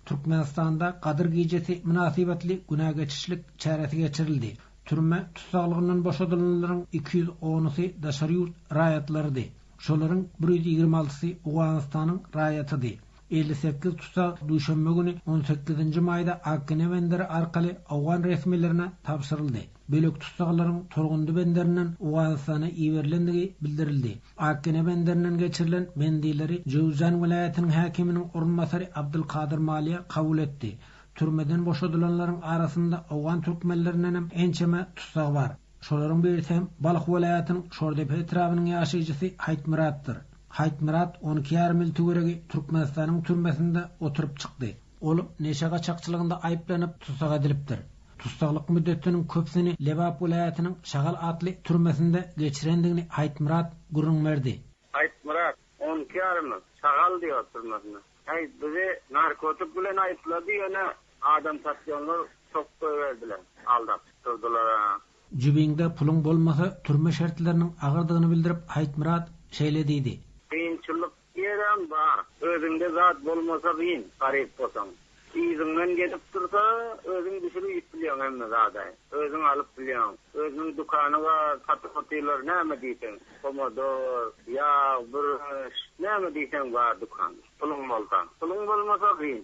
Türkmenistanda Gadyr gijesi mynasybetli güne geçişlik çäresi geçirildi. Türme tussaglygyndan boşadylanlaryň iki ýüz onusy daşary ýurt raýatlarydy. Şolaryň bir ýüz ýigrimi altysy Owganystanyň raýatydy. Elli sekiz tussag duşenbe güni, on sekizinji maýda Akgine benderi arkaly owgan resmilerine tabşyryldy. Bölek tussaglaryň Turgundy benderinden Owganystana iberilendigi bildirildi. Akgene benderinden geçirilen bendilleri Jöwzjan welaýatynyň häkiminiň orunbasary Abdylkadyr Maliýa kabul etdi. Türmeden boşadylanlaryň arasynda owgan türkmenlerinden hem ençeme tussag bar. Şolaryň birisi hem Balh welaýatynyň Şordepe etrabynyň ýaşaýjysy Haýtmyratdyr. Haýtmyrat on iki ýarym ýyl töweregi Türkmenistanyň türmesinde oturyp çykdy. Ol neşe gaçakçylygynda aýyplanyp, tussag edilipdir. Tussaglyk müddetiniň köpüsini Lebap welaýatynyň Şagal atly türmesinde geçirendigini Aýtmyrat gürrüň berdi. Aýtmyrat, on iki ýarymy, Şagal diýar türmesinde. Häý, bizi narkotik bilen aýyplady, ýöne adam satýanlar çok goýberdiler, aldap durdylar-a. Jübiňde puluň bolmasa, türme şertleriniň agyrdygyny bildirip, Aýtmyrat şeýle diýdi. Kynçylyk Ýeräm bar, özüňde zat bolmasa gyn, garyp bolsaň. Yzyňdan gelip dursa, özüň düşür iýip bilýäň hemme zada. Özüň alyp bilýäň. Özüniň dükany bar, satyp-otyrlar, näme diýseň. Pomodor, ýag, bürünç, näme diýseň bar dükanda. Puluň bolsa. Puluň bolmasa gyn.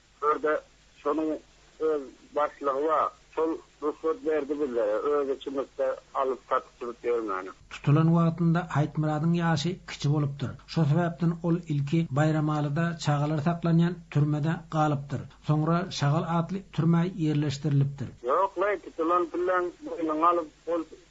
Birde şonuň öz başlygy bar. Şol rugsat berdi bizlere, öz içimizde alyp satyp sürüp ýörmäne. Tutulan wagtynda Aýtmyradyň ýaşy kiçi bolupdyr. Şo sebäpden ol ilki Baýramalyda çagalar saklanýan türmede galypdyr. Soňra Şagal atly türmä ýerleşdirilipdir. Ýok-laý, tutulan pullan boýnuňa alyp, ol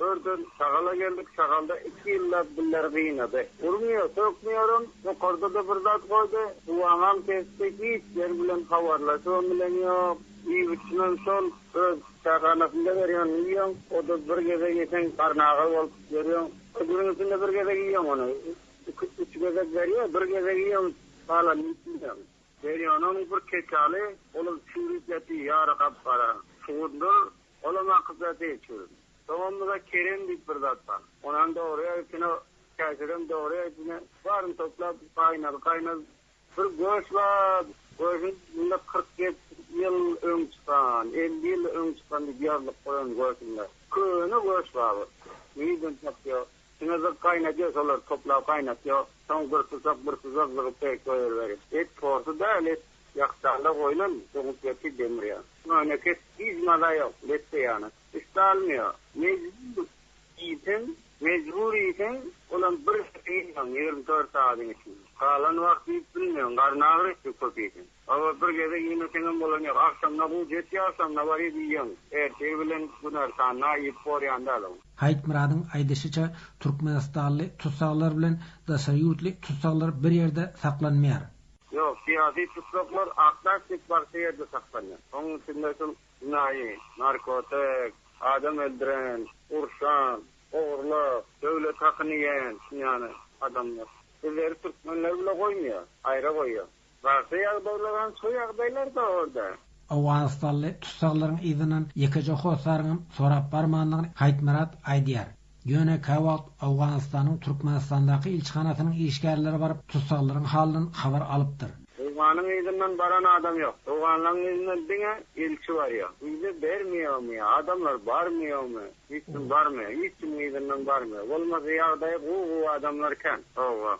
Örden şagala geldik. Şagalda iki ýyllap gülleri gynady. Urmuýar, sökmýärem. Tokarda-da bir zat goýdy. Suwaňam kesdi. Hiç ýer bilen habarlaşybam bilen ýok. Iýip üçinem şol öz çäkhanasynda berýänini iýýän. O-da bir gezek ýeseň garnagar bolup ýörýän. Bir günüň içinde bir gezek iýýän ony. Iki, üç gezek berýär. Bir gezek iýýän, galan iýip bilmeýän. Berýäniniň bir keçaly, olam çüýrüp ýatyr, ýary gap-gara. Şugundyr. Olam akyja dil çüwdüm. Soňamyza Kerem diýip bir zat bar. Onam dogry ýazypjyna, käşirem dogry ýazypjyna. Baryny toplap, gaýnal, gaýnal. Bir göç bar. Göçüň üstünde kyrk beş ýyl öň çykan, elli ýyl öň çykan diýip ýazlyk bar onuň göçünde. Köne göç bar bir. Nirden tapýa? Şuna zyk gaýnadýa şolary toplap gaýnatýa. Soň bir susak, bir susak zygyp beýik goýberiberi. Et porsy däl, et. Ýakjaglar goýlan toňupberki demirýär. Möneket hiç maza ýok, letde ýaly. Üsti almaýar. Mejbur iýseň, mejbur iýseň, olam bir gep iýýäň ýigrimi dört sagadyň içinde. Galan wagt iýip bilmeýäň, garny agyr etdi köp iýseň. Hawa, bir gezek iýmeseňem bolan ýok. Agşamyna guýjy etýär, agşamyna baryp iýýäň. Ertiri bilen günortanyna iýip borýan däl ol. Haýtmyradyň aýdyşyça, türkmenistanly tussaglar bilen daşary ýurtly tussaglar bir ýerde saklanmaýar. Ýok, syýasy tussaklar akdaş dek barça ýerde saklanýar. Onuň içinde şol jenaýy, narkotik, adam öldüren, urşan, ogurlap, döwlet hakyny iýen ýaly adamlar bizleri türkmenleri bile goýmaýar, aýra goýýar. Barça ýagdaýlaram şo ýagdaýlar-da orda. Owganystanly tussaglaryň yzyndan ýekeje hossaryňam sorap barmandygyny Haýtmyrat aýdýar. Ýöne käwagt Owganystanyň Türkmenistandaky ilçihanasynyň işgärleri baryp, tussaglaryň halyndan habar alypdyr. Owganyň yzyndan baran adam ýok. Owganlaň yzyndan diňe ilçi barýar. Wiza bermeýärmi ýa adamlar barmaýarmy? Hiç kim barmaýar. Hiç kimiň yzyndan barmaýar. Bolmasa ýagdaýy gowy-gowy adamlar kän. Hawa.